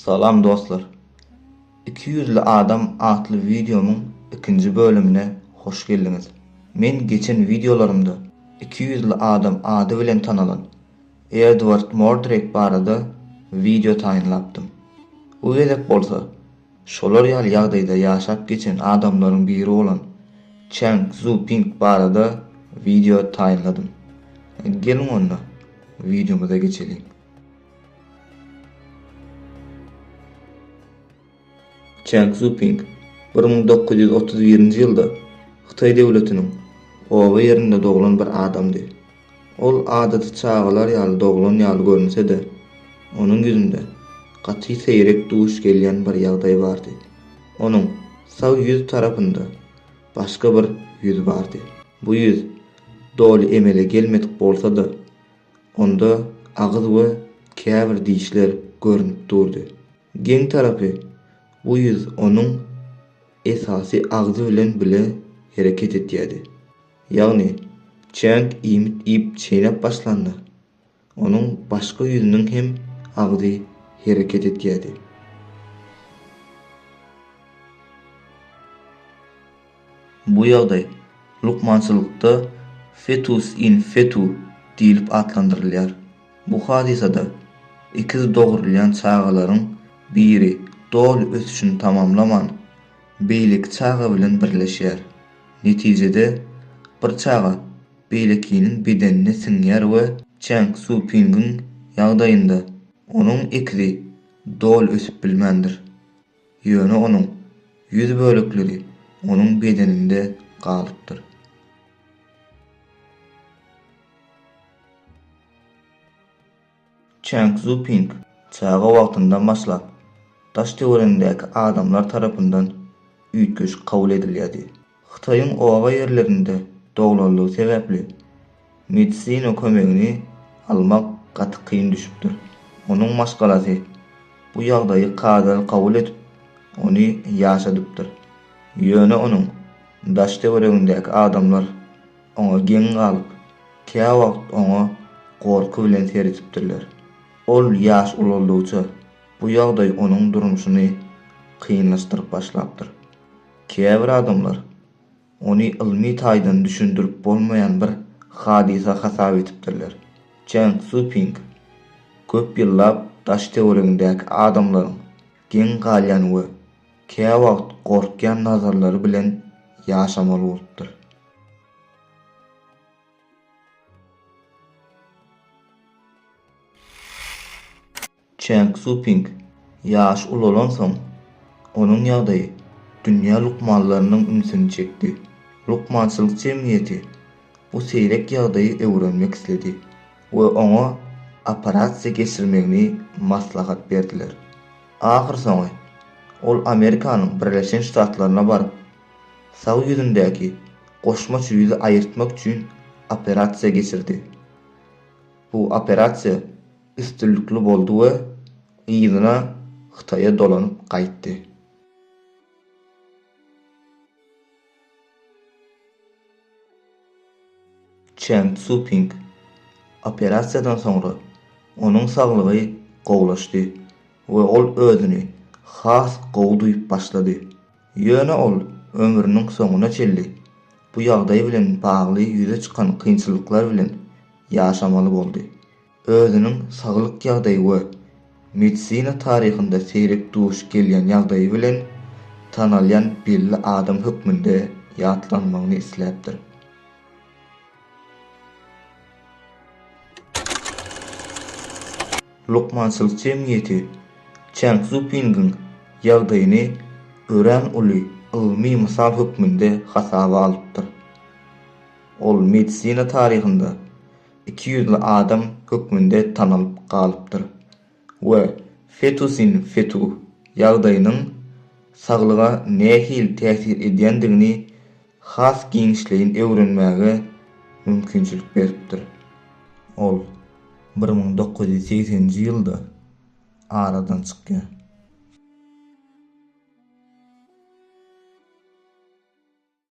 Salam dostlar. Iki ýüzli adam atly wideomyň ikinji bölümine hoş geldiňiz. Men geçen wideolarymda iki ýüzli adam ady bilen tanalan Edward Mordrake barada wideo taýynlapdym. Bu gezek bolsa Şolar ýaly ýagdaýda ýaşap geçen adamlaryň biri bolan Çang Zu Ping barada wideo taýynladym. Geliň onda, wideomyza geçeliň. Çang Zu Ping bir müň dokuz ýüz otuz birinji ýylda Hytaý döwletiniň Oba ýerinde doglan bir adamdy. Ol adaty çagalar ýaly doglan ýaly görünse-de, onuň ýüzünde gaty seýrek duş gelýän bir ýagdaý bardy. Onuň sag ýüz tarapynda başga bir ýüz bardy. Bu ýüz doly emele gelmedik bolsa-da, onda agyz we käbir dişler görnüp durdy. Geň tarapy, bu ýüz onuň esasy agzy bilen bile hereket etýärdi. Ýagny, çäň iýmit iýip çeýnäp başlanda, onuň başga ýüzüniň hem agzy hereket edýärdi. Bu ýagdaý lukmançylykda fetus in fetu diýlip atlandyrylýar. Bu hadysada ikiz dogrulýan çagalaryň biri doly ösüşini tamamlaman, beýleki çaga bilen birleşýär. Netijede, bir çaga beýlekiniň bedenine siňýär we Çang Szuopingiň ýagdaýynda, onuň ekizi doly ösüp bilmändir. Ýöne onuň ýüz bölekleri onuň bedeninde galypdyr. Çang Czuoping çaga wagtyndan başlap, daş-töweregindäki adamlar tarapyndan üýtgeşik kabul edilýärdi. Hytaýyň oba ýerlerinde doglanlygy sebäpli, medisina kömegini almak gaty kyn düşüpdir. Onuň maşgalasy bu ýagdaýy kadaly kabul edip, ony ýaşadypdyr. Ýöne onuň daş-töweregindäki adamlar Oňa geň galyp, käwagt oňa gorky bilen seredipdirler. Ol ýaş ulaldygyça, bu ýagdaý onuň durmuşyny kynlaşdyryp başlapdyr. Käbir adamlar ony ylmy taýdan düşündirip bolmaýan bir hadysa hasap edipdirler. Çang Tzu-ping köp ýyllap daş-töweregindäki adamlaryň geň galýan we käwagt gorkýan nazarlary bilen ýaşamaly bolupdyr. Çen Ksuping ýaş ulalansoň, onuň ýagdaýy dünýä lukmanlarynyň ünsüni çekdi. Lukmançylyk jemgyýeti bu seýrek ýagdaýy öwrenmek isledi we oňa operasiýa geçirmegini maslahat berdiler. Ahyrsoňy, ol Amerikanyň Birleşen Ştatlaryna baryp, Sag ýüzündäki goşmaç ýüzi aýyrtmak üçin operasiýa geçirdi. Bu operasiýa üstünlikli boldy we yzyna Hytaýa dolanyp gaýtdy. Çen Szuoping, Operasiýadan soňra onuň saglygy gowulaşdy we ol özüni has gowy duýup başlady. Ýöne ol ömrüniň soňuna çenli bu ýagdaý bilen bagly ýüze çykan kynçylyklar bilen ýaşamaly boldy. özüniň saglyk ýagdaýy we medisina taryhynda seýrek duş gelýän ýagdaýy bilen tanalýan belli adam hökmünde ýatlanmagyny isläpdir. Lukmançylyk jemgyýeti Çang Szupingiň ýagdaýyny örän uly ylmy mysal hökmünde hasaba alypdyr. Ol medisina taryhynda iki ýüzli adam hökmünde tanalyp galypdyr we fetusin fetu ýagdaýynyň saglyga nähili täsir edýändigini has giňişleýin öwrenmäge mümkinçilik beripdir. Ol bir müň dokuz ýüz segseninji ýylda aradan çykýar.